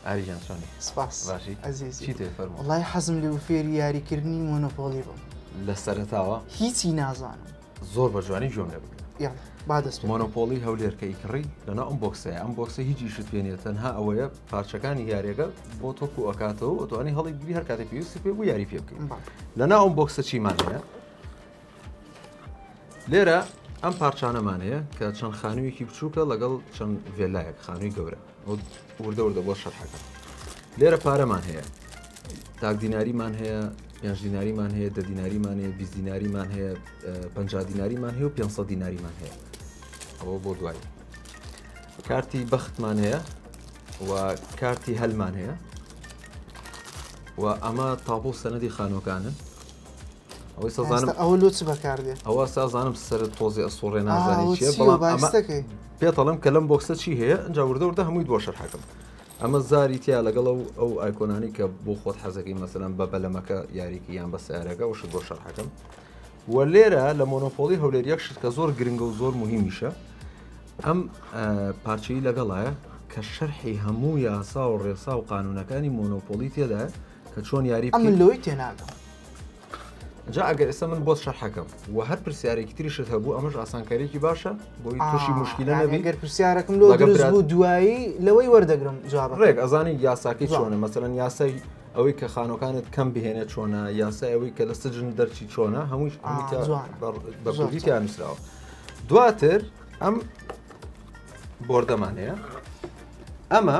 ئاریجان چۆنی سپاس باشی ئەزیزی چی تێ فەرموو وڵای حەزم لێ و فێری یاریکردنی مۆنۆپۆڵی بووم لە سەرتاوە هیچی نازانم زۆر بە جوانی گوێم لێ بکرێت یاڵ با دەست پێ. مۆنۆپۆڵی هەولێرکە ئیکڕی لەنا ئەم بۆکسەیە ئەم بۆکسە هیچ شت پێ نیە تەنها ئەوەیە پارچەکانی یارێگە بۆ تۆپ و ئەکاتەوە ئەتوانی هەڵی گری هەر کاتی پێویستی پێ بوو یاری پێ بکەین بەڵێ. لەنا ئەم بۆکسە چیمان هەیە لێرە ئەم پارچانەمان هەیە کە چەند خانوویەکی بچووکە لەگەڵ چەند ڤێلایەک خانووی گەورە وردە وردە بۆ شەرحەکە لێرە پارەمان هەیە تاک دیناریمان هەیە پێنج دیناریمان هەیە دە دیناریمان هەیە بیست دیناریمان هەیە پ دیناریمان هەیە و 500 دیناریمان هەیە ئەوە بۆ دوایی کارتی بەختمان هەیە و کارتی هەلمان هەیە و ئەمە تاپۆ سەنەدی خانۆکانن ئەوەی سەزانم ئەوە لۆ چ بەکاردێ ئەوە سازانم سەر تۆزی ئەسوڕێ نازانێت چیە بەڵام ئەمە پێتەڵم کە لەم بۆکسە چی هەیە ئەجا وردە وردە هەمووی بۆ شەرحەکەم ئەمە زاری تیا لەگەڵ و ئەو ئایکۆنانی کە بۆ خۆت حەزەکەی مەسەلەن بە بەلەمەکە یاریکی یان بە سیارەکە و شت بۆ شەرحەکەم و لێرە لە مۆنۆپۆلی هەولێر یەک شت کە زۆر گرنگە و زۆر مهمیشە ئەم پارچەی لەگەڵایە کە شەرحی هەموو یاسا و ڕێسا و قانونەکانی مۆنۆپۆلی تێدا کە چۆن یاری ئەم لۆی تێناگەم جا ئەگەر ئێستا من بۆت شەرحەکەم و هەر پرسیارێکی تریشت هەبوو ئەمەش ئاسانکاریکی باشە بۆی تووشی مشکیلە نەبی گەر پرسیارەکەم لۆ بوو دوایی لەوەی وەردەگرم جواب ڕێک ئەزانی یاساکەی چۆنە مەسەرەن یاسای ئەوەی کە خانەکانت کەم بهێنێ چۆنا یاسای ئەوەی کە لە سجن دەرچی چۆنا هەمووش بەکوردیتیان نووسراوە دواتر ئەم بردەمان هەیە ئەمە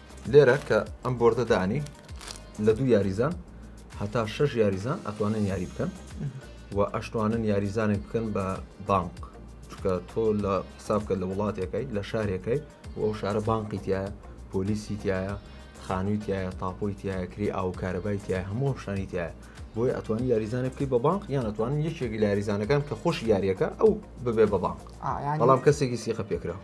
لێرە کە ئەم بۆردە دانی لە دوو یاریزان هەتا شەش یاریزان ئەتوانن یاری بکەن و ئەشتوانن یاریزانێک بکەن بە بانک چکە تۆ لە حسابکە لە وڵاتەکەی لە شارەکەی و ئەو شارە بانقی تایە پۆلیسی تایە خانووی تایە تاپۆی تایە کری ئاوکارەبای تایە هەموو شانی تایە بۆی ئەتوانی یاریزانە بکەی بە بانق یان ئەتوانن یەکێکی لاریزانەکان کە خۆش یاریەکە ئەو ببێ بە بانق بەڵام کەسێکی سیقە پێکراوە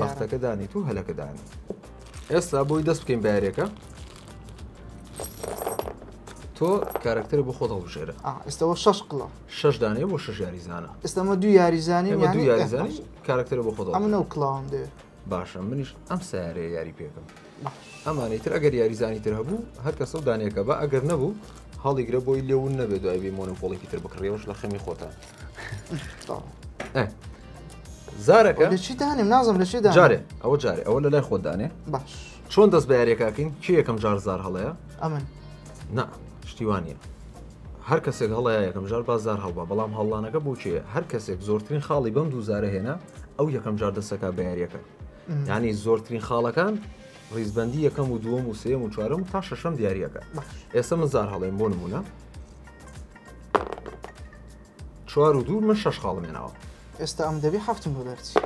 بەختەکە دانیت و هەلەکە دانێت ئێستا بۆی دەست بکەین بارێکە تۆ کارکتەر بۆ خۆت هەڵبژێرە ئێستەوە شش قڵە شش دانێ بۆ شش یاریزانە ئێستەمە دوو یاریزانانی ئێمە دوو یاریزانی کارکتەر بۆ خۆت ئەمە نەو کلااوم دێ باشە منیش ئەم سیارەیە یاری پێکەم ئەمانەی تر ئەگەر یاریزانی تر هەبوو هەر کەسە و دانێکە بە ئەگەر نەبوو هەڵیگرە بۆی لێون نەبێ دوای بی مۆنۆپۆڵێکی تر بکڕیەوەش لە خەمی خۆتە زارەکە لە چی دانێم نازم لە چی جارێ ئەوە جارێ ئەوە لە لای خۆ دانێ باش چۆن دەست بە یاریەکەکەین چی یەکەم جار زار هەڵەیە ئەمن نا شتیوانە هەر کەسێک هەڵە یەکەم جار بازار هەڵبا بەڵام هەڵانەکە بۆچێ هەر کەسێک زۆرترین خاڵی بەم دووزارە هێنا ئەو یەکەم جار دەسەکە بە یاریەکە ینی زۆرترین خاڵەکان ڕیزبندی یەکەم و دووەم و سێم و چوارم و تا شەشەم دیارریەکە ئێستا من زار هەڵێن بۆ نمونە چوار و دوو من شش خاڵم ناوە ئێستا ئەم دەبی هەفتم بەرچی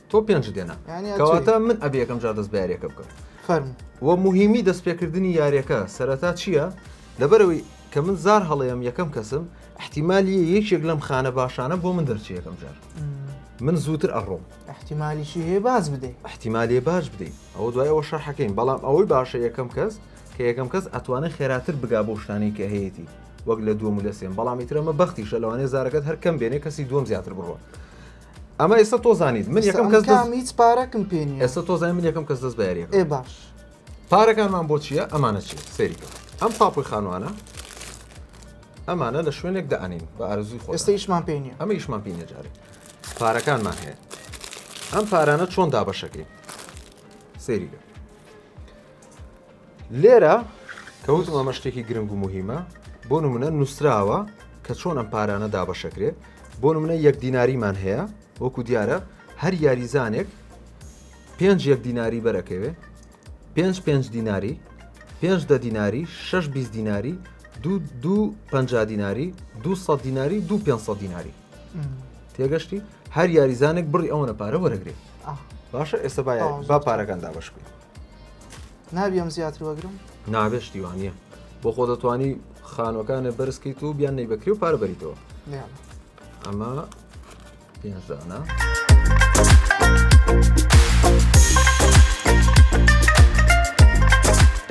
تۆ پێنج دێنا کەواتە من ئەبێ یەکەم جار دەست بارێکە بکەم فەرم وە مهمی دەستپێکردنی یاریەکە سەرەتا چییە؟ لەبەرەوەی کە من زار هەڵەیەم یەکەم کەسم احتیمالی یەکێک لەم خانە باشانە بۆ من دەرچێ یەکەم جار من زووتر ئەڕۆم احتیمالیشی هەیە باز بدەیت احتیمالی باش بدەیت ئەوە دوای ئەوە شەرحەکەین بەڵام ئەوەی باشە یەکەم کەس کە یەکەم کەس ئەتوانێت خێراتر بگا بۆ شتانی کە هەیەی وەک لە دووەم لە سێن بەڵامی ترەمە بەختیشە لەوانێ زارەکەت هەرکەم بێنێ کەسی دوم زیاتر بڕۆ ئەمە ئێستا تۆزانیت من یەکەم کەس هیچ پارەکم پێێنی ئێستا تۆزای من یەکەم کەس دەست بەریێ باش پارەکانمان بۆ چیە ئەمانە چیە سەیری کە ئەم تاپۆی خانوانە ئەمانە لە شوێنێک دانین بە ئارزوی خۆ ئێستا ئیشمان پێ نیە ئەمە ئیشمان پێ نەجارێت پارەکانمان هەیە ئەم پارانە چۆن دابەشەکەی سەیریگە لێرە کەوتم ئەمە شتێکی گرنگ و مهمە بۆ نمونە نووسراوە کە چۆن ئەم پارانە دابەشەکرێت بۆ نمونە یەک دیناریمان هەیە وەکو دیارە هەر یاریزانێک پێنج یەک دیناری بەرەکەوێ پێنج پێنج دیناری پێنج دە دیناری شش بیست دیناری دوو دوو پ دیناری دو سە دیناری دوو پێ دیناری تێگەشتی هەر یاریزانێک بڕی ئەوەنە پارە وەرەگرێت باشە ئێستا باە با پارەکاندا بەش بکەین نابیەم زیاتر وەگرم نابێشتیوانە بۆ خۆ دەتوانی خانوەکانە بەرزکەیت و بیان نەی بەکری و پاربەریتەوە ئەمە پێنج دانە.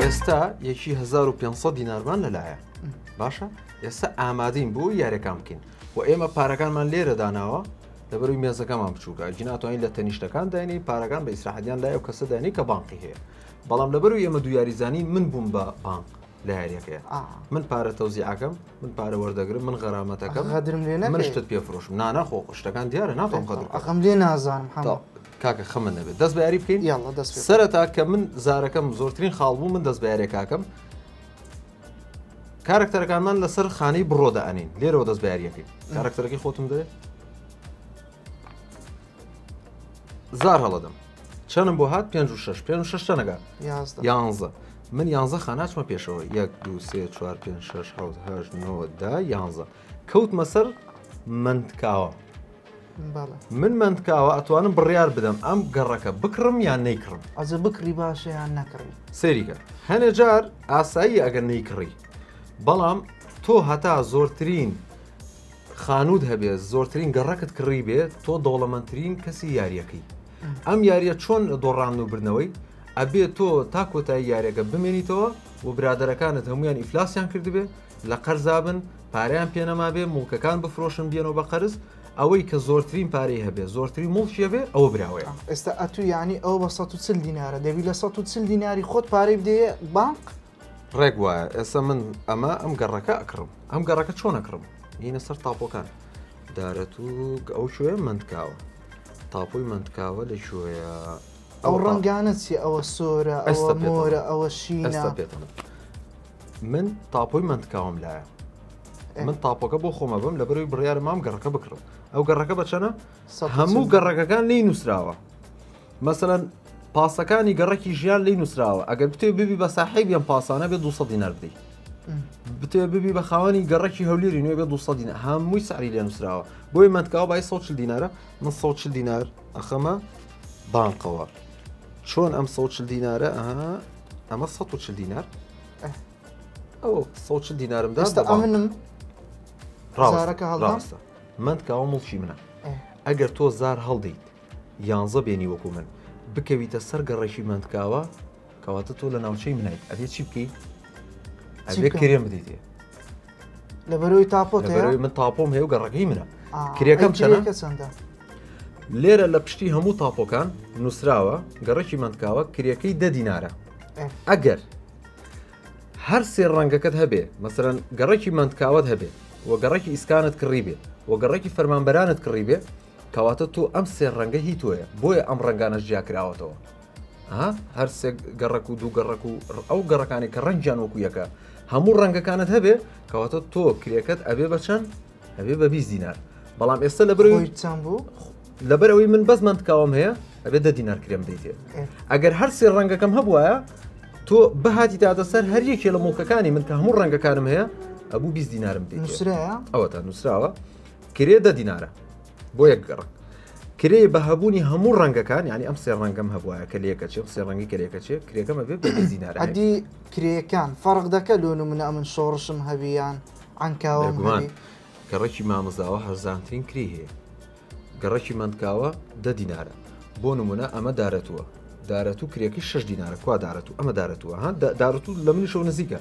ئێستا یەکی 1500 دینارمان لەلایە باشە ئێستا ئامادەین بۆ یارەکان بکەین و ئێمە پارەکانمان لێرە داناوە لەبەروی مێزەکەمان بچووکە گیناتوانین لە تەنیشتەکان داینی پارەکان بە ئیسراحەتیان لای و کەسە دانی کە بانقی هەیە بەڵام لەبەروی ئێمە دو یاریزانی من بووم بە بانق لە یاریەکەیە من پارە تەوزیعەکەم من پارە وەردەگرم من غەرامەتەکە غەدرم لێ من شتت پێ فرۆشم نانا خۆ شتەکان دیارە ناتۆم قەدر ئەخم لێ نازانم کاکە خەمە نەبێت دەست بەیاری بکەین سەرەتا کە من زارەکەم زۆرترین خاڵ بوو من دەست بەیارێ کاکەم کارکتەرەکانمان لەسەر خانەی بڕۆدا ئەنین لێرەوە دەست بەیاریەکەین کارکتەرەکەی خۆتم دەێت زار هەڵەدەم چەنم بۆ هات پێ و شش پێ و شش تەنەگە یانزە من یانزە خاناچمە پێشەوە یەک دو سێ چوار پێ شش حوت هەش نۆدا یانزە کەوت مەسەر منتکاوە من منتکاوە ئەتوانم بڕیار بدەم ئەم گەڕەکە بکڕم یان نەیکڕم ئەزە بکری باشیان نەکڕی سەریکە هەنێ جار ئاسایی ئەگەر نەیکڕی بەڵام تۆ هەتا زۆرترین خانووت هەبێ زۆرترین گەڕەکت کڕی بێ تۆ دەوڵەمەندترین کەسی یاریەکەی ئەم یاریە چۆن دۆڕان و بردنەوەی ئەبێ تۆ تا کۆتایی یاریەکە بمێنیتەوە و برادەرەکانت هەمویان ئیفلاسیان کردبێ لە قەرزابن پاریان پێنەما بێ مڵکەکان بفرۆشن بێنەوە بە قەرز ئەوەی کە زۆرترین پارەی هەبێ زۆرترین مڵکیە بێ ئەوە براوەیە ئێستا ئەتو ینی ئەو بە 140 دینارە دەبی لە 140 دیناری خۆت پارەی بدەیە بانک ڕێک وایە ئێستا من ئەمە ئەم گەڕەکە ئەکڕم ئەم گەڕەکە چۆن ئەکڕم دینە سەر تاپۆکان دارەت و ئەو شوێ منتکاوە تاپۆی منتکاوە لە شوێە ئەو ڕەنگانە چی ئەوە سۆرە ئەستا مۆرە ئەوە شینە پێتەمە من تاپۆی منتکاوم لایە من تاپۆکە بۆ خۆمە بم لە بەروی بڕیارە مام گەڕەکە بکڕم ئەو گەڕەکە بەچەنە هەموو گەڕەکەکان لی نووسراوە مەسەلەن پاسەکانی گەڕەکی ژیان لی نووسراوە ئەگەر بتێ ببی بە ساحێبی ئەم پاسانە بێ 200 دینار بدەیت بتێ ببی بە خاوەنی گەڕەکی هەولێری نوێ بێ 200 دینار هەمووی ساری لێ نووسراوە بۆی منتکاو بای 100 دینارە من 100 دینار ئەخەمە بانقەوە چۆن ئەم 100 دینارە ئەها ئەمە 100 دینار ئەو 100 دینارم دەستە ئەمنم ڕاستە من کاوە مڵکی منە ئەگەر تۆ زار هەڵدەیت یانزە بێنی وەکو من بکەویتە سەر گەڕەکی مەندکاوە کەواتە تۆ لە ناوچەی منیت ئەبێ چی بکەی ئەبێ کرێن بدەیتێ لەبەرەوەی تاپۆ من تاپۆم هەیە و گەڕەکەی منە کرێکەم چەندەکە چەندە لێرە لە پشتی هەموو تاپۆکان نووسراوە گەڕەکی مندکاوە کرێکەی دە دینارە ئەگەر هەر سێ ڕەنگەکەت هەبێ مەسەرەن گەڕەکی مندکاوت هەبێ و گەڕەکی ئیسکانت کڕی بێ و گەڕەکی فەرمانبەرانت کڕی بێ کەواتە تۆ ئەم سێ ڕەنگە هی تۆیە بۆیە ئەم ڕەنگانەش جیا کراوەتەوە ها هەرسێک گەڕک و دوو گەڕک و ئەو گەڕەکانی کە ڕەنجیان وەکو یەکە هەموو ڕەنگەکانت هەبێ کەواتە تۆ کرێکەت ئەبێ بەچەند ئەبێ بە بیست دینار بەڵام ئێستا لە بەرەوەی خۆی چەند بوو لەبەر ئەوەی من بەس منتکاوم هەیە ئەبێ دە دینار کرێم دەیتێ ئێ. ئەگەر هەر سێ ڕەنگەکەم هەبواە تۆ بهاتی تاتە سەر هەر یەکێ لە مڵکەکانی من کە هەموو ڕەنگەکانم هەیە ئەبوو بیست دینارم دێت نووسراە ئەوە تا نووسراوە کرێ دە دینارە بۆ یەک گەڕەک. کرێ بە هەبوونی هەموو ڕەنگەکان یعنی ئەم سێ ڕەنگەم هەبواە کە لەکەچێت سێ ڕەنگی کە لەکەچێت کرێکەمە بێت بە دینار ئەدی کرێکان فەرق دەکە لۆ نمونە ئەمن شۆڕشم هەویان عەنکاوە گومان گەڕەکی مامزاوە هەرزانترین کری هەیە گەڕەکی مندکاوە دە دینارە بۆ نمونە ئەمە دارەتووە دارەت و کرێکی شش دینارە کوا دارەت و ئەمە دارەتووە ها دارەت و لە منی شەو نزیکە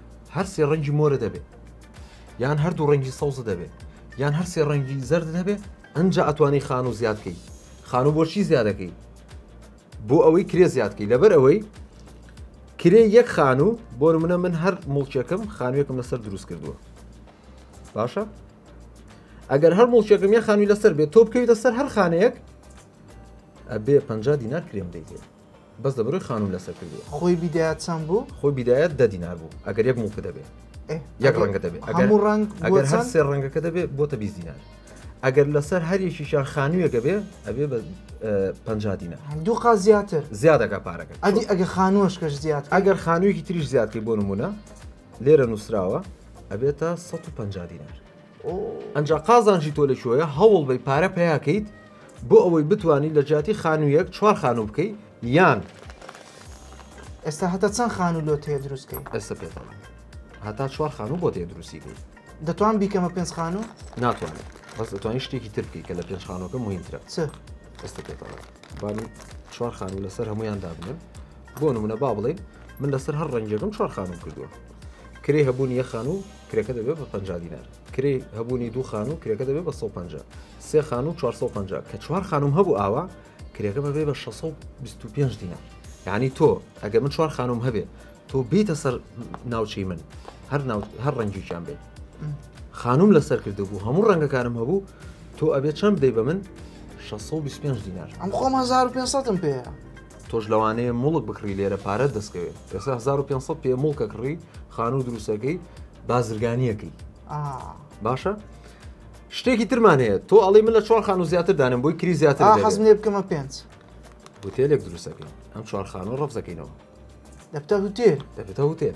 هەر سێ ڕەنگی مۆرە دەبێ یان هەردوو ڕەنگی سەوزە دەبێ یان هەر سێ ڕەنگی زەرد دەبێ ئەجا ئەتوانی خان و زیاد بکەیت خان و بۆچی زیادەکەی بۆ ئەوەی کرێ زیادکەی لەبەر ئەوەی کرێ یەک خان و بۆ منە من هەر مڵکێکم خانوێکم لەسەر دروست کردووە باشە ئەگەر هەر مڵکێکم یە خانوی لەسەر بێت تۆ بکەویتە سەر هەر خانەیەک ئەبێ پ دینار کرێم دەیتێت بەس لە بەرۆی خانوم لەسەر کردووە. خۆی بیدایە چەند بوو؟ خۆی بیدایە دە دینار بوو ئەگەر یەک موڵک دەبێ یەک ڕەنگە دەبێ ئەگەر ڕەنگ ئەگەر هەر سێ ڕەنگەکە دەبێ بۆ تە بیست دینار ئەگەر لەسەر هەریەکیشان خانوویەکە بێ ئەبێ بە پ دینە دوو قا زیاتر زیادەکە پارەکە ئەدی ئەگە خانووەش کەش زیاد ئەگەر خانوویەکی تریش زیادکەی بۆ نمونە لێرە نووسراوە ئەبێتە 150 دینار ئنجا قازانجی تۆ لە کوێیە هەوڵ بەی پارە پیاکەیت بۆ ئەوەی بتوانیت لە جیاتی خانوویەک چوار خانوو بکەیت یان ئێستا هەتا چەند خانوو لۆ تێ دروستکەی ئێستا پێ هەتا چوار خانوو بۆ تێ دروستی بوو دەتوان بیکەمە پێنج خانوو ناتوانێت بەس دەتوانین شتێکی تر بکەیت کە لە پێنج خانووەکە مهمترە چ ئێستا پێ با من چوار خانوو لەسەر هەمویان دابنێم بۆ نمونە با بڵێ من لەسەر هەر ڕەنگێکم چوار خانوو کردووە کرێی هەبوونی یە خانوو کرێکە دەبێت بە پ دینار کرێ هەبوونی دوو خانوو کرێکە دەبێت بە 150 سێ خانوو 450 کە چوار خانم هەبوو ئاوا کرێکە بەبێ بە 625 دینار یعنی تۆ ئەگەر من چوار خانم هەبێ تۆ بیتە سەر ناوچەی من هەر هەر ڕەنجیان بێت خانم لەسەر کردو بوو هەموو ڕەنگەکانم هەبوو تۆ ئەبێت چەند دەی بە من 625 دینار ئەم خۆم 1500م پێەیە تۆش لەوانەیە موڵک بکڕی لێرە پارەت دەستکەوێت ئێستا 1500 پێ موڵکە کڕی خانوو دروستەکەی بازرگانیەکەی باشە شتێکی ترمان هەیە تۆ ئەڵی من لە چوار خانوو زیاتر دانم بۆی کری زیاتر حەزم لێ بکەمە پێنج هوتێلێک دروستەکەی ئەم چوار خانوو ڕفزەکەینەوە دەبتە هوتێل دەبێتە هوتێل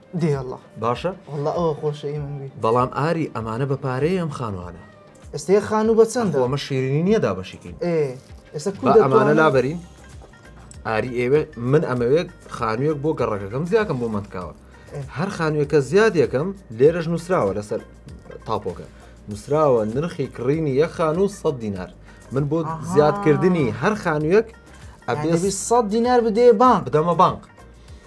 دێ ئەڵا باشە ئەڵا ئەوە خۆشەی من بی بەڵام ئاری ئەمانە بە پارەیە ئەم خانوانە ئێستا یە خانوو بە چەند ئەخۆ ئەمە شیرینی نییە دابەشیکەین ئێ ئێستا کو با ئەمانە دەتوانم لابەرین ئاری ئێوێ من ئەمەوێت خانوویەک بۆ گەڕەکەکەم زیاکەم بۆ منتکاوە هەر خانوویەکە زیاد یەکەم لێرەش نووسراوە لەسەر تاپۆکە نووسراوە نرخی کڕینی یە خانوو 100 دینار من بۆ ئاها. زیادکردنی هەر خانوویەک یعنی ئەبێ دەبی سەد دینار بدەیە بانک بدەمە بانک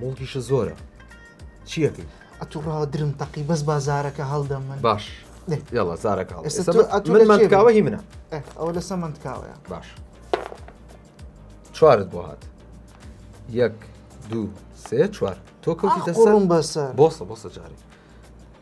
موڵکیشت زۆرە چیەکەی؟ ئەتو ڕاوە درم تەقی بەس با زارەکە هەڵدەم من باش یاڵە زارەکە منمانکاوە هی منە ئەوە لەسە منتکاوەیە باش چوارت بۆ هات یەک دوو سێ چوار تۆ کەوتی دەسەڵم بەسەر بۆسە بۆسە جارێک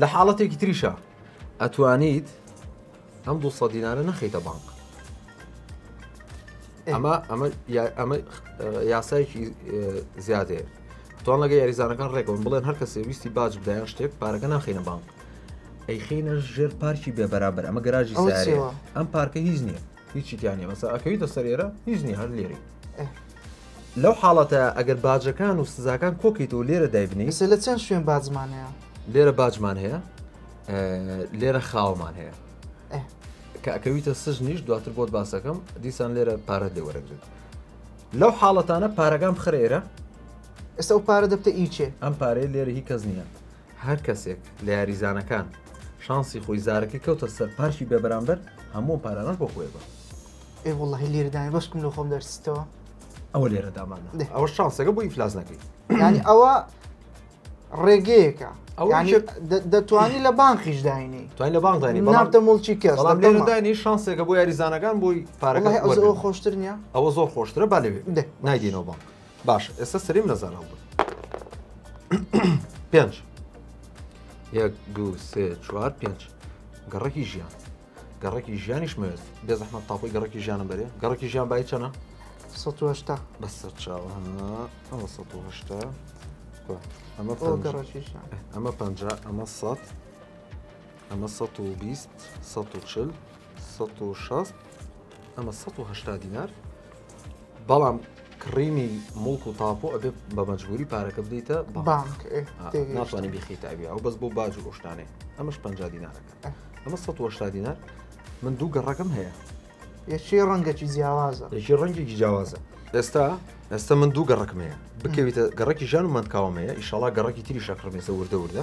لە حاڵەتێکی تریشا ئەتوانیت ئەم دو سە دینارە نەخیتە بانک ئەمە ئەمە ئەمە یاسایکی زیادێ توان لەگە یاریزانەکان ڕێکەوەن بڵێن هەر کەسێ ویستی باج بدایان شتێک پارەکە ناخینە بانک ئەیخینە ژێر پارکی بێبەرابەر ئەمە گەراجی ئەم پارکە هیچ نییە هیچی تیانە مەسا ئەکەویتە سەر ئێرە هیچ نی هەر لێری لەو حاڵەتە ئەگەر باجەکان و سزاکان کۆکیت و لێرە دایبنی سە لە چەند شوێن باجمانەیە لێرە باجمان هەیە لێرە خاومان هەیە کە ئەکەویتە سژ نیش دواتر بۆت باسەکەم دیسان لێرە پارەت لێ وەرەگرێت لەو حاڵەتانە پارەکان بخرێرە ئێستا و پارە دەبتە ئیچێ ئەم پارەی لێرە هی کەس نییە هەر کەسێک لە یاریزانەکان شانسی خۆی زارەکەی کەوتە سەر پارکی بێ بەرامبەر هەموو پارانەش بۆ خۆێ بە ئێ وڵی لێردای بەشکم لە خۆم دەرسیتەوە ئەوە لێرە دامانە دێ. ئەوە شانسەکە بۆ ئیفلاس نەکەیت یعنی ئەوە ڕێگەیەکە ئەوە یعنی یەک- دە- دەتوانی لە بانقیش داینی توای لە بانزانی نابتە مڵکی کەس بەڵام دەتەمە. لێرەدانی شانسێکە بۆ یاریزانەکان بۆی پارەکە وڵی ئەوزەوە وەرگرن. خۆشتر نییە ئەوە زۆر خۆشترە با لەوێ دێ. نایدینەوە بانک باشە ئێستا سەریم لەزار هەڵبرد پێنج یەک دوو سێ چوار پێنج گەڕەکی ژیان گەڕەکی ژیانیش مەوێت بێ زەحمە تاپۆی گەڕەکی ژیانم بەرێ گەڕەکی ژیان بای چەنە سەهشتا بە سەر چاوە ئەوە سەهشتا ئەمە گەڕەکی ژیان ئەمە پ ئەمە سە ئەمە سە و بیست سە و چل سەد و شەست ئەمە سەد و هەشتا دینار بەڵام کڕینی مڵک و تاپۆ ئەبێ بە مەجبوری پارەکە بدەیتە بانک ناتوانانی بخی تاوی ئەو بەس بۆ باج و ئۆشتانێ ئەمەش پ دینارەکە ئەمە 1970 دینار من دوو گەڕەکەم هەیە یەکی ڕەنگەکی جیاوازە یەکی ڕەنگێکی جیاوازە ئێستا ئێستا من دوو گەڕکمەیە بکەویتە گەڕکی ژان و مندکاومەیە ئیشەڵا گەڕکی تری شەکڕمێسە وردە وردە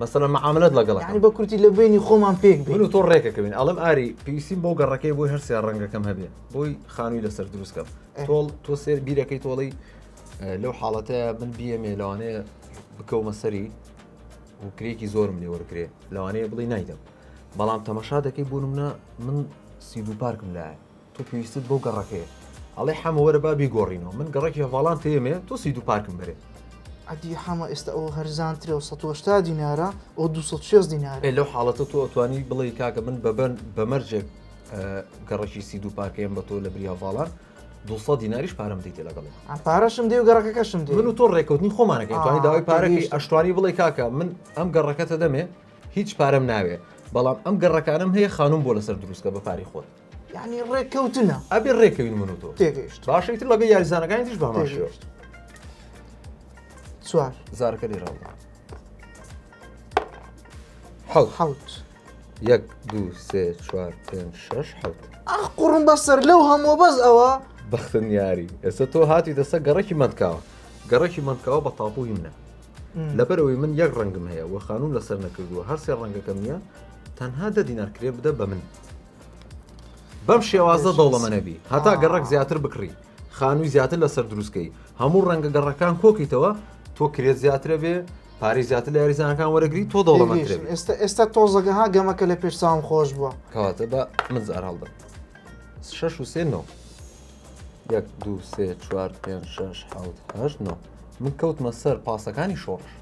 مەسەلەن معاملەت لەگەڵ یعنی بە کورتی لە بینی خۆمان پێک بین و تۆ ڕێکەکەوین ئەڵم ئاری پێویستیم بۆ گەڕەکەی بۆی هەر سێ ڕەنگەکەم هەبێ بۆی خانووی لەسەر دروستکەم تۆڵ تۆ سێر بیرەکەی تۆڵی لەو حاڵەتە من بیەمێ لەوانەیە بکەومە سەری و کرێکی زۆرم لێ وەرگێ لەوانەیە بڵی نایدەم بەڵام تەمەشا دەکەی بوونمە من سیدو پارکم لایە تۆ پێویستت بەو گەڕەکەیە. ئەڵێ حەمە وەرە با بیگۆڕینەوە، من گەڕەکی هەڤاڵان تێیەمێ، تۆ سی دو پارکم بەرێ. ئەدی حەمە ئێستا ئەوە هەرزانترە و سەد و هەشتا دینارە، ئەوە دوو سەد و شێست دینارە. ئێ لەو حاڵەتە تۆ ئەتوانی بڵێی کاکە من بە مەرجێک گەڕەکی سی دو پارکەیەم بە تۆ لە بری هەڤاڵان دوو سەد دیناریش پارەم دەیتێ لەگەڵی. ئەم پارەشم دێ و گەڕەکەکەشم دێ. من و تۆ ڕێککەوتنی خۆمانەکەین، توانی داوای پارەکەی ئەشتوانی بڵێی کاکە من ئەم گەڕەکەتە دەمێ هیچ پارەم ناوێ، بەڵام ئەم گەڕەکانەم هەیە خانووم بۆ لەسەر دروستکە بە پارەی خۆت. یعنی ڕێککەوتنە ئەبێ ڕێکەوین من و تۆ تێگەیشت باشە ئیتر لەگەڵ یاریزانەکانی تریش بەهەمان شێوە تێگەیشت چوار زارەکە لێراوە حەوت حەوت یەک دوو سێ چوار پێنج شەش حەوت ئاخ قوڕم بەسەر لەو هەموو بەس ئەوە بەختن یاری ئێستا تۆ هاتی دەسە گەڕەکی مەندکاوە گەڕەکی مەندکاوە بە تاپوی منە لەبەرەوەی من یەک ڕەنگم هەیە و خانوم لەسەر نەکردووە هەرسێ ڕەنگەکەم نیە تەنها دە دینار کرێ بدە بە من بەم شێوازە دەوڵەمەنەبی هەتا گەڕک زیاتر بکڕی خانووی زیاتر لەسەر دروستکەی هەموو ڕەنگە گەڕەکان کۆکەیتەوە تۆ کرێت زیاترە بێ پارێ زیاتر لە یاریزانەکان وەرەگری تۆ دەوڵەمەند ئێستا ئێستا تۆزەگە ها گەمەکە لە پێش چاوم خۆش بووە کەواتە بە من زار هەڵدە شش و سێ نۆ یەک دو سێ چوار پێ شش حوت هەش نۆ من کەوتمە سەر پاسەکانی شۆڕش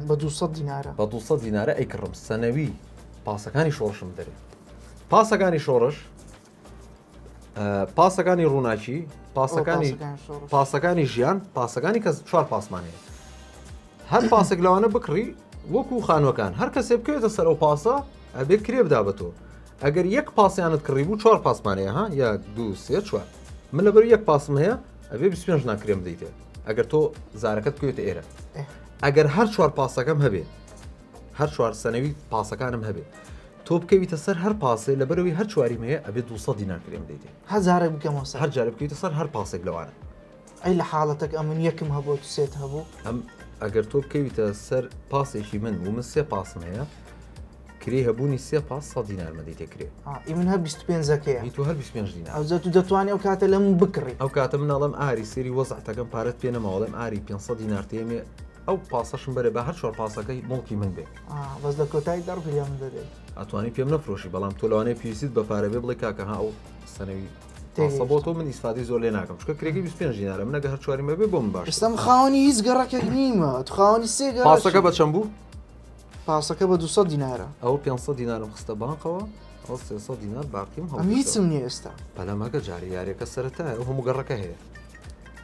بە 200 دینارە بە 200 دینارە ئەیکڕم سەنەوی پاسەکانی شۆڕشم دەرێت پاسەکانی شۆڕش پاسەکانی ڕووناکی پاسەکانی پاسەکانی ژیان پاسەکانی کەس چوار پاسمانەیە هەر پاسێک لەوانە بکڕی وەکو خانوەکان هەر کەسێ بکەوێتە سەر ئەو پاسە ئەبێ کرێ بدا بە تۆ ئەگەر یەک پاسیانت کڕی بوو چوار پاسمانەیە ها یا دو سێ چوار من لەبەر یەک پاسم هەیە ئەبێ پێنج ناکرێم دەیتێت ئەگەر تۆ زارەکەت کوێتە ئێرە ئەگەر هەر چوار پاسەکەم هەبێ هەر چوار سنەوی پاسەکانم هەبێ تۆ بکەویتە سەر هەر پاسێ لە بەرەوەی هەر چواری مەیە ئەبێ 200 دینار کرێم دەیتێ هەزارێک بکەم هەر جارە بکەیتە سەر هەر پاسێک لەوانە ئەی لە حاڵەتەک ئەمن یەکم هەبوو سێت هەبوو ئەم ئەگەر تۆ بکەویتە سەر پاسێکی من و من سێ پاسم هەیە کرێ هەبوونی سێ پاس سە دینارمەدی تێکرێ من هە 25ەکەی تو هەر 25 دینار ئەو تو دەتوانانی ئەو کاتە لەم بکڕی ئەو کاتە مناڵم ئاری سری وەزعتەکەم پارەت پێ نەماوەڵم ئاری 500 دینار تێمێ ئەو پاسەشم بەرێ بە هەر چوار پاسەکەی مڵکی من بێ بەس لە کۆتایی دەڕ گریان دەدەیت ئەتوانی پێم نەفرۆشی بەڵام تۆ لەوانەیە پێویستیت بە پارە بێ بڵێ کاکە ها ئەو سنەوی پاسە بۆ تۆ من ئیسفادی زۆر لێ ناکەم چکە کرێگەی 25 دینارە منە گە هەر چواری مەبێ بۆ من باش ئێستم خاوەنی هیچ گەڕەکێک نیمە خاوەنی سێ گەڕ پاسەکە بە چەند بوو پاسەکە بە 200 دینارە ئەو 500 دینارم خستە بانقەوە ئەو 300 دینار باقیم هەم هیچم نیە ئێستا پەلەمەکە جاری یارەکە سەرەتایە ئەو هەموو گەڕەکە هەیە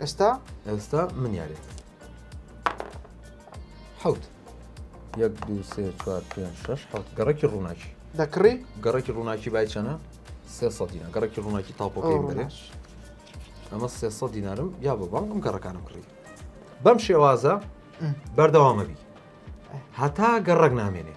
ئێستا ئێستا من یارێت حوت یەک دو سێ چوار پێ شش حوت گەڕێکی ڕووناکی دەکڕی گەڕێکی ڕووناکی بای چەنە سێ سە دینا گەڕێکی ڕووناکی تاپۆکەی بەێش ئەمە سێ سە دینارم یا بە بانگم گەڕەکانم کڕی بەم شێوازە بەردەوامەبی هەتا گەڕک نامێنێ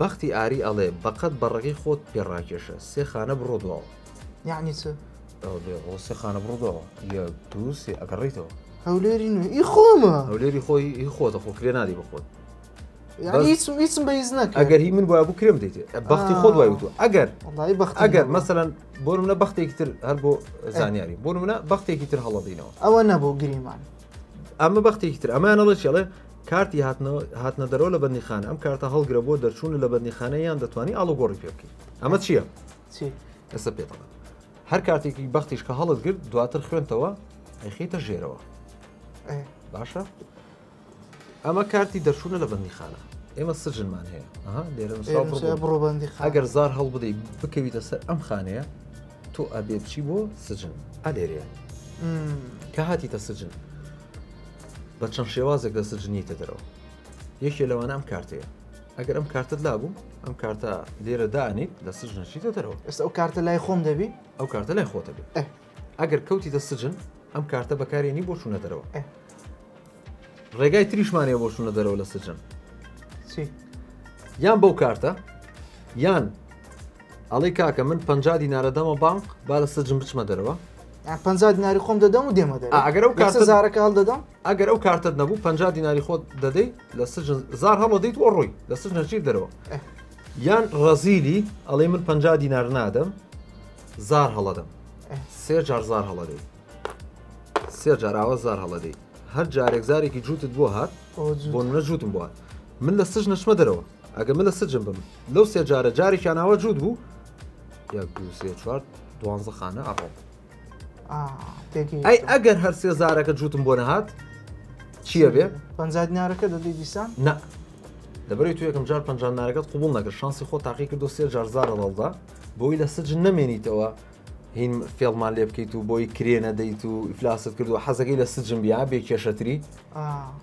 بەختی ئاری ئەڵێ بەقەد بەڕەگەی خۆت پێ ڕاکێشە سێ خانە بڕۆ دواوە. یەعنی چ؟ ئەڵێ هۆ سێ خانە بڕۆ دواوە یەک دوو سێ ئەگەڕێیتەوە. هەولێری نوێ ئی خۆمە. هەولێری خۆی ئی خۆتە خۆ کرێ نادەی بە خۆت. یەعنی هیچم هیچم بە هیچ نەکرد. ئەگەر هی من بوایەبوو کرێم دەیتێ بەختی خۆت وای وتووە ئەگەر وەڵایی بەختی نەبوو. ئەگەر مەسەلەن بۆ نموونە بەختێکی تر هەر بۆ زانیاری بۆ نموونە بەختێکی تر هەڵە دینەوە. ئەوە نەبوو گریمان. ئەمە بەختێکی تر ئەمانەڵە چی ئەڵێ؟ کارتی هاتنە دەرەوە لە بەندیخانە ئەم کارتە هەڵگرە بۆ دەرچوون لە بەندیخانە یان دەتوانانی ئاڵوگۆڕی پێ بکەیت ئەمە چییە؟ چی؟ ئێستا پێ بڵێ هەر کاتێکی بەختیش کە هەڵت گرت دواتر خوێنتەوە ئەیخیتە ژێرەوە باشە ئەمە کارتی دەرچوونە لە بەندیخانە ئێمە سجنمان هەیە بڕۆبندی ئەگەر زار هەڵ بدەی بکەویتە سەر ئەم خانەیە تۆ ئەبێ بچی بۆ سجن ئەلێرەیە کە هاتیتە سجن بە چەند شێوازێک لە سجنیتە دەرەوە یەکێ لەوانە ئەم کارتەیە ئەگەر ئەم کارتت لابوو ئەم کارتە لێرە دانیت لە سجنشیتە دەرەوە ئێستا ئەو کارتە لای خۆم دەبی ئەو کارتە لای خۆتە بێت ئەگەر کەوتی دە سجن ئەم کارتە بەکارێنی بۆ چوونە دەرەوە ڕێگای تریشمانێ بۆ چوونە دەرەوە لە سجن یان بەو کارتە یان ئەڵێی کاکە من پەنجا دینارە دەمە بانق با لە سجن بچمە دەرەوە یان پەنجا دیناری خۆم دەدەم و دێمە دەرەوە. ئەگەر ئەو کارتە- کەسە زارەکە هەڵدەدەم ئەگەر ئەو کارتت نەبوو پەنجا دیناری خۆت دەدەی لە سجن زار هەڵەدەیت و ڕۆی لە سجنە چیر دەرەوە ئه. یان ڕەزیلی ئەڵێ من پەنجا دینار نادەم زار هەڵەدەم ئه. سێ جار زار هەڵەدەی سێ جاراوە زار هەڵەدەی هەر جارێک زارێکی جووتت بۆ هات ئەوە جووت. بۆ منە جووتم بۆ هات من لە سجنە چمە دەرەوە ئەگە من لە سجن بم لەو سێ جارە جارێکیانەوە جووت بوو یەک دو سێ چوار دوانزە خانە ئەڕۆم ئەی ئەگەر هەر سێ زارەکە جووتم بۆ نەهات چییە بێ پنجادنارەکە دەدەی دیسان نە لەبەری تو یەکەم جار پنجانارەکەت قوبول نەکرد شانسی خۆ تاقی کرد دو سێ جار زارە ڕڵدا بۆی لە سج نەمێنیتەوە هین فێڵمان لێ بکەیت و بۆی کرێ نەدەیت و ئیفلاست کردو حەزەکەی لە سجم بیا بێ کێشەتری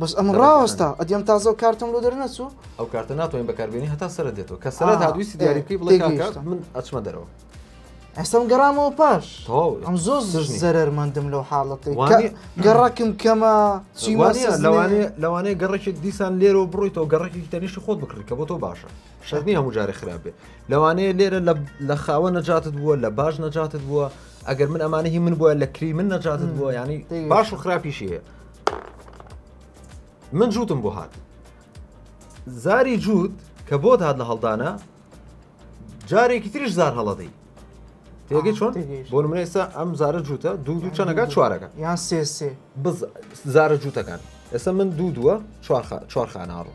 بەس ئەم ڕاستە ئەدیم تازە کارتم لۆ دەرنەچوو ئەو کارتە ناتوانین بەکاربیێنی هەتا سرە دێتەوە کە سرە هاویستی دیاری بکەی بڵێ من ئەچمە دەرەوە ئەسم گەڕامەوە پاش ئەم زۆر زەرمەندم لەو حاڵەتی گەڕکم کەمە لەوانەیە لەوانەیە گەڕێکی دیسان لێرە بڕیتەوە گەڕێکی تەنیشی خۆت بکڕی کە بۆ تۆ باشە شەرت نییە هەموو جارێ خراپ بێ لەوانەیە لێرە لە خاوە نەجاتت بووە لە باش نەجاتت بووە ئەگەر من ئەمانە هی من بووە لە کری من نەجاتت بووە ینی باش و خراپیشی هەیە من جووتم بۆ هات زاری جووت کە بۆ هاات لە هەڵدانە جارێکی تریش زار هەڵەدەی تێگە چۆن بۆ من ئێستا ئەم زارە جووتە دوو دوو چەنەکە چوارەکە یان سێ سێ زارە جووتەکان ئێستا من دوو دووە چوارخانناڕۆ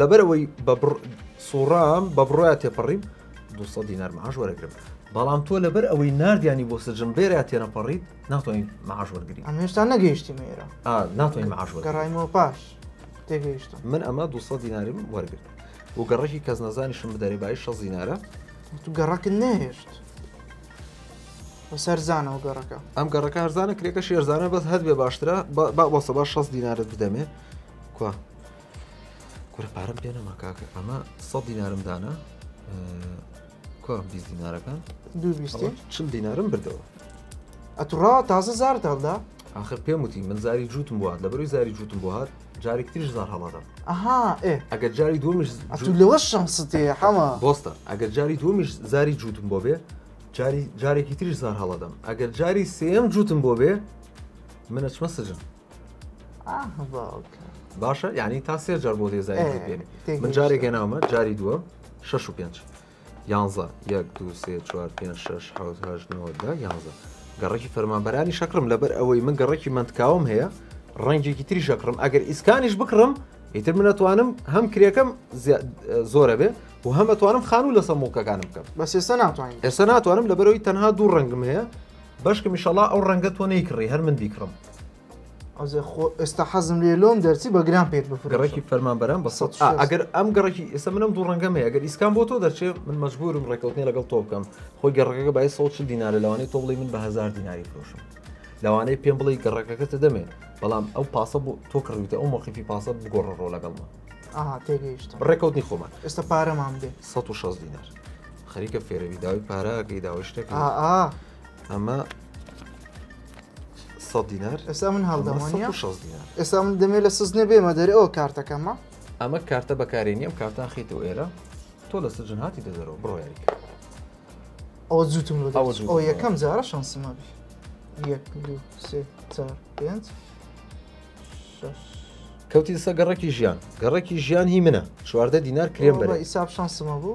لەبەر ئەوەی بەبڕ سوڕام بە بڕۆیا تێپەڕیم 200 دینار معاش وەرەگرم بەڵام تۆ لەبەر ئەوەی نردیانی بۆ سجم بێرە تێنەپەڕیت ناتوانین معاش وەرگری ئەم هێشتا نەگەیشتی مێرە ناتوانین معاش گەڕایمەوە پاش تێگەیشت من ئەمە 200 دیناریم وەرگرت و گەڕێکی کەس نەزانیشم بدەێ بای 6 دینارە تو گەڕەکن نەهێشت سەرزانەوە گەڕەکە ئەم گەڕەکە هەرزانە کرێکە شێرزانە بەس هەر بێ باشترە بەسە بە 6 دینارت بدەمێ کو کورە پارەم پێ نەما کاکە ئەمە سە دینارم دانا کۆم بی دینارەکان چل دینارم بردەوە ئەتوڕا تازە زارتاندا آخر پێم وتی من زاری جوتم بوات لە بەروی زاری جوتم بۆ هات جارێک تریش زار هەڵادەم ئەها ئەگەر جاری دومش لەوە شەمستێ حەما بۆستە ئەگەر جاری دومش زاری جوتم بۆ بێ جاری جارێکی تریش زار هەڵادەم ئەگەر جاری سێم جوتم بۆ بێ منە چمە سجن باشە یعنی تا سێ جار بۆ دێزاری پێێنێ من جارێک گەناومە جاری دووە شش و پێنج یانزە یەک دو سێ چوار پێ شش حوت هەش نۆدا یانزە گەڕێکی فەرمانبەرانی شەکرم لەبەر ئەوەی من گەڕێکی منتکاوم هەیە ڕەنگێکی تری شەکرم ئەگەر ئیسکانیش بکڕم ئیتر منەتوانم هەم کرێکەم زۆرە بێ و هەمەتوانم خان و لەسەر مڵکەکانم بکەم بە سێسە ناتوانین ئێستا ناتوانم لەبەرەوەی تەنها دوو ڕەنگم هەیە بەشکمیشەڵا ئەو ڕەنگە تۆ نەیکڕی هەر من بیکڕم ئەوزێ خۆ ئێستا حەزم لێ لۆم دەرچی بە گران پێت بفرۆشم. گەڕێکی فەرمانبەران بە سەد سەد و شەست. ئەگەر ئەم گەڕێکی ئێستا منم دوو ڕەنگەم هەیە گەر ئیسکان بۆ تۆ دەچێت من مەجبورم ڕێکەوتنی لەگەڵ تۆ بکەم خۆی گەڕەکەکە بای 140 دینارە لەوانەیە تۆ بڵی من بە هزار دیناری فرۆشم لەوانەیە پێم بڵی گەڕەکەکە تە دەمێ بەڵام ئەو پاسە بۆ تۆ کڕیوتە ئەو مۆقیفی پاسە بگۆڕە ڕۆ لەگەڵمە ئاها تێگەیشتم ڕێکەوتنی خۆمان ئێستا پارەمان بێ 160 دینار خەریکە فێرەوی داوای پاراکەی داوای شتەکە ئا ئا ئەمە سە دینار ئێستا من هەڵدەمانە ئێستا من دەمێ لە سزنێ بێمە دەرێ ئەو کارتەکەمە ئەمە کارتە بەکاری نیەم کارتا خیتەوە ئێرە تۆ لە سجن هاتی دەدەرەوە بڕۆیاری ئەوە زووتم لە ئەو یەکەم جارە شانسمە بێ یەک دوو سێ چار پێنج کەوتی سە گەڕێکی ژیان گەڕێکی ژیان هی منە چواردە دینار کرێم بەرە ئیساب شانسمە بوو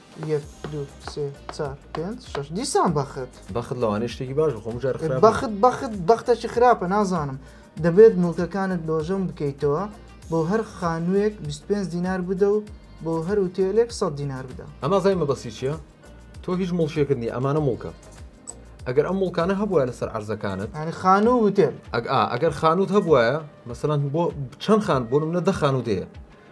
یەک دو سێ چار پێنج شەش دیسان بەخت بەخت لەوانەیە شتێکی باش بخۆم جار خراپ بخۆم. بەخت بەخت بەختەکی خراپە نازانم دەبێت مڵکەکانت لۆژەون بکەیتەوە بۆ هەر خانووێک 25 دینار بدە و بۆ هەر ئوتێلێک 100 دینار بدە ئەما زای مەبەستی چییە؟ تۆ هیچ مڵکێکت نییە ئەمانە مڵکە ئەگەر ئەم مڵکانە هەبووە لەسەر عەرزەکانت یعنی خانوو و وتێل ئەگ ئا ئەگەر خانووت هەبوایە مەسەلەن بۆ چەند خان بۆ منە دە خانوو دێ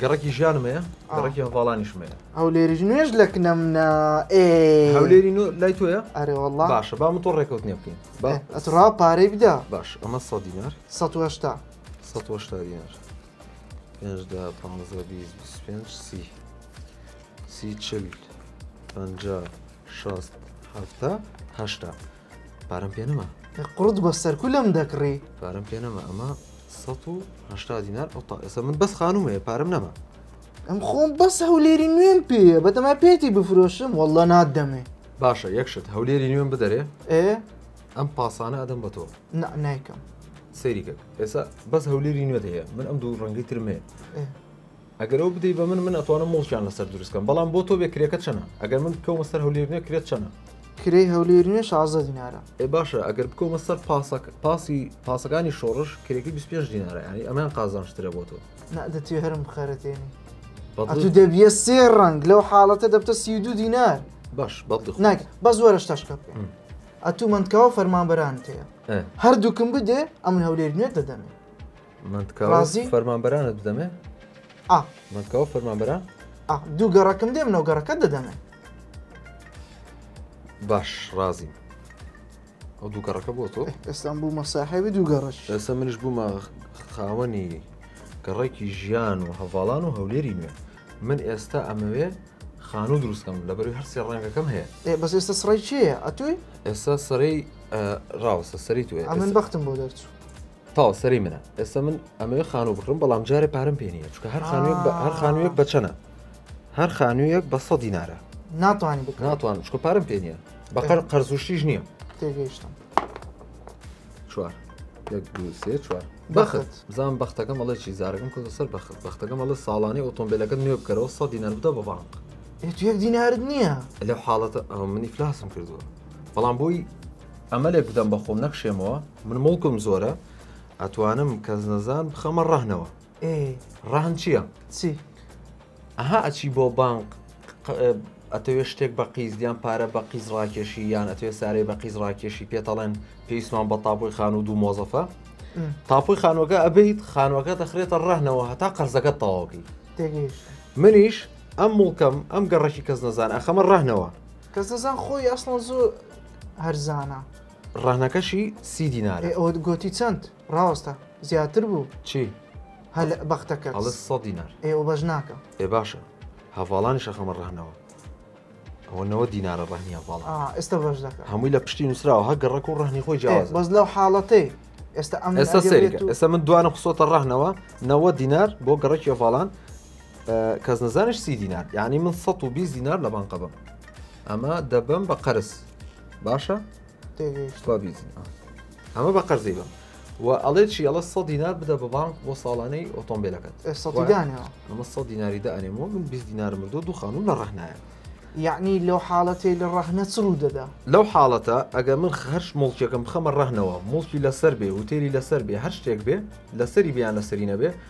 گەڕەکی ژیانم هەیە گەڕەکی هەڤاڵانیشم هەیە هەولێریش نوێژ لە کنەم نا ئێ هەولێری نو لای تۆیە ئەرێ والله باشە با من تۆ ڕێکەوتنی بکەین با ئێ، ئەتڕا پارەی بدا باش ئەمە سە دینار 1970 سە هەشتا دینار پێنجدا پانزە بیست بیست و پێنج سی سی چل پەنجا شەست هەفتە هەشتا پارەم پێ نەما قڕت بە سەرکولم دەکڕی پارەم پێ نەما ئەمە 1970 دینار ئەو تا ئێستا من بەس خانوم هەیە پارەم نەما ئەم خۆم بەس هەولێری نوێم پێیە بەدەما پێتی بفرۆشم واللە نادەمێ باشە یەکشت هەولێری نوێم بدەرێ ئێ ئەم پاسانە ئەدەم بە تۆ نا نایکەم سەیری کرد ئێستا بەس هەولێری نوێت هەیە من ئەم دوو ڕەنگی ترمێ ئێ. ئەگەر ئەو بدەی بە من من ئەتوانم موڵکیان لەسەر دروست کەم بەڵام بۆ تۆ بێ کرێکە چەنە ئەگەر من بکەومە سەر هەولێر نوێ کرێت چەنە؟ کرێی هەولێری نوێ شازدە دینارە. ئەی باشە ئەگەر بکەومە سەر پاسەک پاسی پاسەکانی شۆڕش کرێکەی بیست پێنج دینارە یانی ئەمەیان قازانج ترە بۆ تۆ. نا دەتوێ هەرم بخەرەتێنی. بەدڵی ئەتوو دەبیە سێ ڕەنگ لەو حاڵەتە دەبتە سی و دوو دینار. باش بەدڵی خۆت. ناکرێ بەس وەرە شتەشکە بکەین. ئم. ئەتوو مەندکاوە فەرمانبەرانت هەیە. ئە. هەردووکم بدێ ئەمن هەولێری نوێت دەدەمێ. فەرمانبەرانت بدەمێ مەکەوە فەرمانبەران دوو گەڕەکم دێم نەو گەڕەکە دەدەمێ باش ڕازی ئەو دوو گەڕەکە بۆ تۆ ئێستان بوو مەساحێوی دوو گەڕش ئێستا منش بوومە خاوەنی گەڕێکی ژیان و هەواڵان و هەولێری نوێ من ئێستا ئەمەوێ خانوو دروستکەم لە بەروی هەرسی ڕەنگەکەم هەیە بەس ئێستا سڕی چیە ئەتوی ئێستا سەرەی ڕاوسە سەری تو ئەمن بەختم بۆ دەرچوو تاڵ سەری منە ئێستا من ئەمەوێ خانوو بکڕم بەڵام جارێ پارم پێ نیە چکە هەر خانوێک بە هەر خانوویەک بەچەنە هەر خانوویەک بە سە دینارە ناتوانانی بکە ناتوان چکە پارم پێ نیە بەقەر قەرزوشتیش نییە تێگەیشتم چوار یەک دوو سێ چوار بەخت بزان بەختەکەم ئەڵێ چی زارەکەم کۆتە سەر بەخت بەختەکەم ئەڵێ ساڵانەی ئۆتۆمبیلەکە نوێ بکەرەوە سە دینار بدە بە بانک یەک دینارت نییە لەو حاڵەتە ئەو منی فلاسم کردووە بەڵام بۆی ئەمە لێک بدەم بە خۆم نەکشێمەوە. من موڵکم زۆرە ئەتوانم کەسنەزان بخەمە ڕەهنەوە. ئێ ڕەهن چییە؟ چی؟ ئەها ئەچی بۆ بانق ئەتەوێ شتێک بە قیز یان پارە بە قیز ڕاکێشی یان ئەتوێ سارەی بە قیز ڕاکێشی پێتەڵێن پێویستمان بە تاپۆی خان و دوو مۆزەفە تاپۆی خانوەکە ئەبیت خانوەکە دەخرێتە ڕەهنەوە هەتا قەرزەکە تەواوکەی منیش ئەم مڵکەم ئەم گەڕەکی کەس نەزان ئەخەمە ڕەهنەوە کەس دەزان خۆی ئەسڵان زۆر هەرزانە ڕەهنەکەشی سی دینارە ئەو گوتی چەند ڕاوەستە زیاتر بوو چی هەل بەختەکە ئەڵە سە دینار ئێوە بەش ناکە ئێ باشە هەڤاڵانی شەخەمە ڕەهنەوە ئەوە نەوە دینارە ڕەهنیە باڵ آه، ئێستا بەش دەکە هەمووی لە پشتی نووسراوە هە گەڕک و ڕەهنی خۆی جیاواز بەس لەو حاڵەتەی ئێستا ئەم ئێستا سەیرکە ئێستا من دوانە خسۆتە ڕەهنەوە نەوە دینار بۆ گەڕکی هەڤاڵان کەس نەزانش سی دینار یعنی من 120 دینار لە بانقە بم ئەمە دەبم بە قەرز باشە ئەمە بە قەرزی بم و ئەڵێ چی ئەڵە سە دینار بدە بە بانک بۆ ساڵانەی ئۆتۆمبیلەکەت ئەمە سە دیناری دا ئەنێمەوە من 20 دینار مردو دوو خانم لە ڕحنایە یعنی لەو حاڵەتی لە ڕەحنە چڕوو دەدا لەو حاڵەتە ئەگە من هەرش مڵکیەکەم بخەمە ڕەحنەوە مڵکی لەسەر بێ وتێری لەسەر بێ هەر شتێک بێ لەسەری بیان لەسەری نەبێ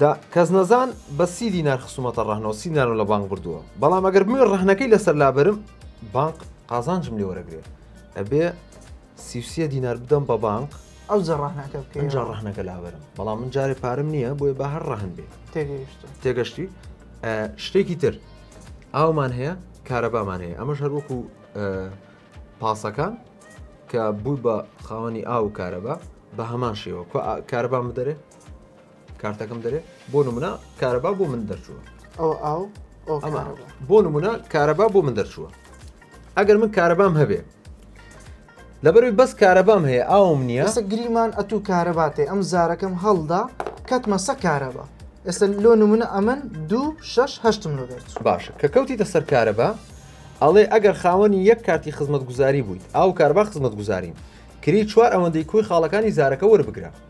دە کەس نەزان بە سی دینار خسوومەتە ڕەهنەوە سی دینارم لە بانک بردووە بەڵام ئەگەر بمێ ڕەهنەکەی لەسەر لابرم بانک قازانجم لێ وەرەگرێ ئەبێ سیوسە دینار بدەم بە بانک ئەو جەڕاهناکە ئەجا ڕەهنەکە لابرم بەڵام من جارێ پارم نییە بۆیە بە هەر ڕەهن بێ تێگەیشت تێگەشتی شتێکی تر ئاومان هەیە کارەبامان هەیە ئەمەش هەروەکو پاسەکان کە بووی بە خاوەنی ئاو و کارەبا بە هەمان شێوە کارەبان بدەرێ کارتەکەم دەرێ بۆ نمونە کارەبا بۆ من دەرچووە ئەو ئاو ئەمە بۆ نمونە کارەبا بۆ من دەرچووە ئەگەر من کارەبام هەبێ لەبەروی بەس کارەبام هەیە ئاوم نییە سە گریمان ئەتو کارەباتێ ئەم زارەکەم هەڵدا کەتمە سە کارەبا ئێستا لۆ نمونە ئەمن دوو شش هەشتم لۆ دەرچ باشە کە کەوتیتە سەر کارەبا ئەڵێ ئەگەر خاوەنی یەک کارتی خزمەت گوزاری بوویت ئاو کاربا خزمەت گوزارین کری چوار ئەوەندەی کۆی خاڵەکانی زارەکە وەربگرە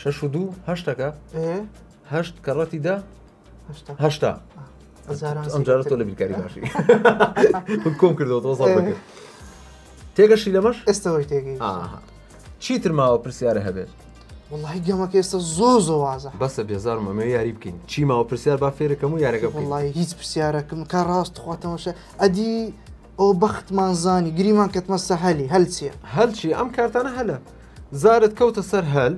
شەش و دوو هەشتەکە ئێ هەشت کەڕەتی دە هەشتا هەشتا هەزاران ئەم جارە تۆ لە بیرکاری باشی من کۆم کردەوە تۆ سەڵ بکرد تێگەشی لەمەش ئێستەوەی تێگەی ئاها چیتر ماوە پرسیارە هەبێت وڵی گەمەکە ئێستا زۆ زۆ وازە بەسە بێزارم ئەمە یاری بکەین چی ماوە پرسیار با فێرەکەم و یارەکە بکەین. وڵی هیچ پرسیارەکەم کە ڕاست خواتەمەشە ئەدی ئۆ بەختمان زانی گریمان کەتمە سە هەلی هەل چیە؟ هەل چی ئەم کارتانە هەلە زارت کەوتە سەر هەل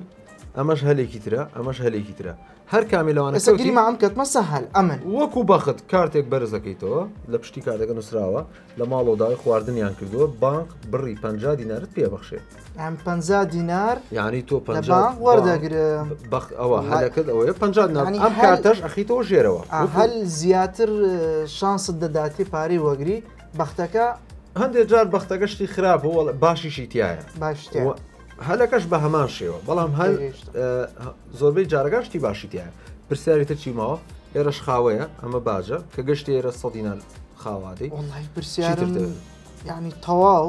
ئەمەش هەلێکی ترە ئەمەش هەلێکی ترە هەر کامی لەوانە ئێستا سەوتی گریمان کەتمە سە هەل ئەمن وەکو بەخت کارتێک بەرز دەکەیتەوە لە پشتی کارتەکە نووسراوە لە ماڵەوە داوای خواردنیان کردووە بانک بڕی 50 دینارت پێبەخشێت ئەم پ دینار یعنی تۆ پ وەردەگرم بەخ ئەوە هەلەکەت ئەوەیە پ دینار ئەم کارتەش ئەخیتەوە ژێرەوە هەل زیاتر شانست دەداتی پارەی وەگری بەختەکە هەندێک جار بەختەکە شتی خراپ بۆ باشیشی تایە باش هەلەکەش بە هەمان شێوە بەڵام هەل زۆربەی جارەکە شتی باشی تایە پرسیاری تر چی ماوە ئێرەش خاوەیە ئەمە باجە کە گەشتی ئێرە سەدینان خاواتی پرسیار ینی تەواو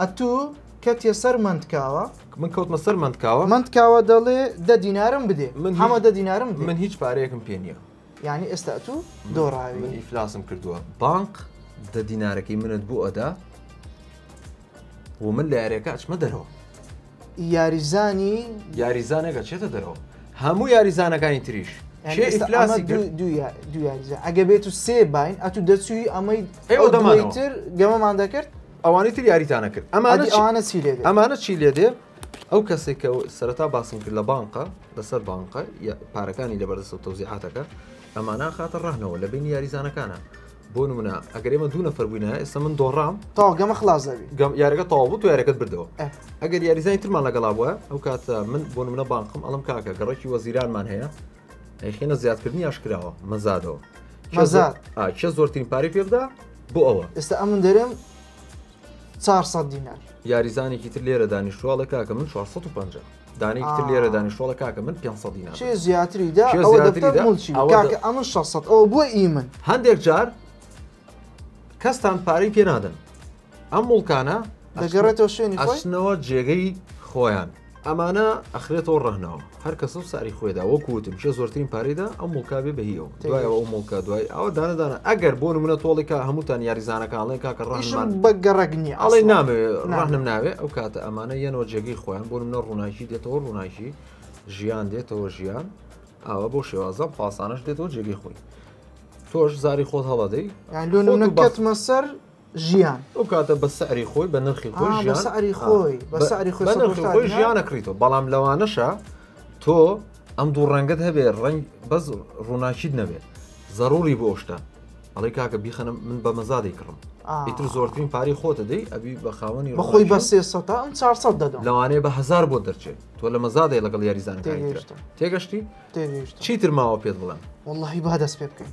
ئەتو کەتیە سەر مەندکاوە. من کەوتمە سەر مەندکاوە. مەندکاوە دەڵێ دە دینارم بدێ. حەمە دە دینارم بدێ. من هیچ پارەیەکم پێ نییە. یانی ئێستا ئەتو دۆڕاوی. من ئیفلاسم کردووە. بانق دە دینارەکەی منت بۆ ئەدا و من لە یاریەکە ئەچمە دەرەوە. یاریزانی یاریزانەکە چێتە دەرەوە. هەموو یاریزانەکانی تریش. کێ ئیفلاسی کرد؟ دوو یا- دوو یاریزان. ئەگە بێتو سێ باین ئەتو دەچووی ئەمەی ئێوە دەمانەوە. ئەوەی تر گەمەمان دەکرد. ئەوانی تر یاریتانە کرد ئەمانە ئەوانە چی لێ ئەمانە چی لێ دێ ئەو کەسێک کە سەرەتا باسم کرد لە بانقە لەسەر بانقە پارەکانی لە بەردەسە تەوزیعاتەکە ئەمانە خاتە ڕەهنەوە لە بینی یاریزانەکانە بۆ نمونە ئەگەر ئمە دوو نەفەر بووینە ئێستا من دۆڕام تاگەمە خلاصەوی گەم یارەکە تاوابوو تو یارەکەت بردەوە ئەگەر یاریزانی ترمان لەگەڵا بووە ئەو کاتە من بۆ منە بانقم ئەڵم کاکە گەڕێکی وەزیرانمان هەیە ئەیخینە زیادکردنی ئاشکراوە مەزادەوە مەزاد کێ زۆرترین پارەی پێ بدا بۆ ئەوە ئێستا ئەمن دەرێم 400 دینار یاریزانێکی تر لێرە دانیشتواڵە کاکە من 450 دانێکی تر لێرە دانیشتواڵە کاکە من 500 دینار چێ زیاتری دا کاکە ئەمن 600 ئەوە بۆ ئی من هەندێک جار کەستان پارەی پێ نادەن ئەم مڵکانە دەگەڕێتەوە شوێنی ئەچنەوە جێگەی خۆیان ئەمانە ئەخرێتەوە ڕەنەوە هەر کەسە و ساری خۆێدا وەکوتم چێ زۆرترین پارەیدا ئەم مڵکاێ بەهیەوە دوایەوە ئەو مڵکە دوای ئەوە دانەدانە ئەگەر بۆ منە تۆڵیکە هەمووتان یاریزانەکانڵێن کاکە ڕژمان بە گەڕگنی ئەڵێ نامێ ڕحنم ناوێ ئەو کاتە ئەمانە یەنەوە جێگەی خۆیان بۆ منە ڕووناکی دێتەوە ڕووناکی ژیان دێتەوە ژیان ئەوە بۆ شێوازە پاسانش دێتەوە جێگەی خۆی تۆش زاری خۆت هەڵەدەی لۆ بەتمە سەر ژیان. ئەو کاتە بە سعری خۆی بە نرخی خۆی ژیان. بە سعری خۆی بە سعری خۆی بە نرخی خۆی ژیان ئەکڕیتەوە بەڵام لەوانەشە تۆ ئەم دوو ڕەنگەت هەبێ ڕەنگ بەس ڕووناکیت نەبێت زەڕوری بۆ شتە ئەڵی کاکە بیخەنم من بە مەزادی کڕم ئیتر زۆرترین پاری خۆتە دەی ئەبی بە خاوەنی بەخۆی بە سێ سە ئەم چار سە دەدەم لەوانەیە بە هزار بۆ دەرچێت تۆ لە مەزادی لەگەڵ یاریزان تێگەشتی چیتر ماوە پێت بڵێن واللهی با دەست پێ بکەین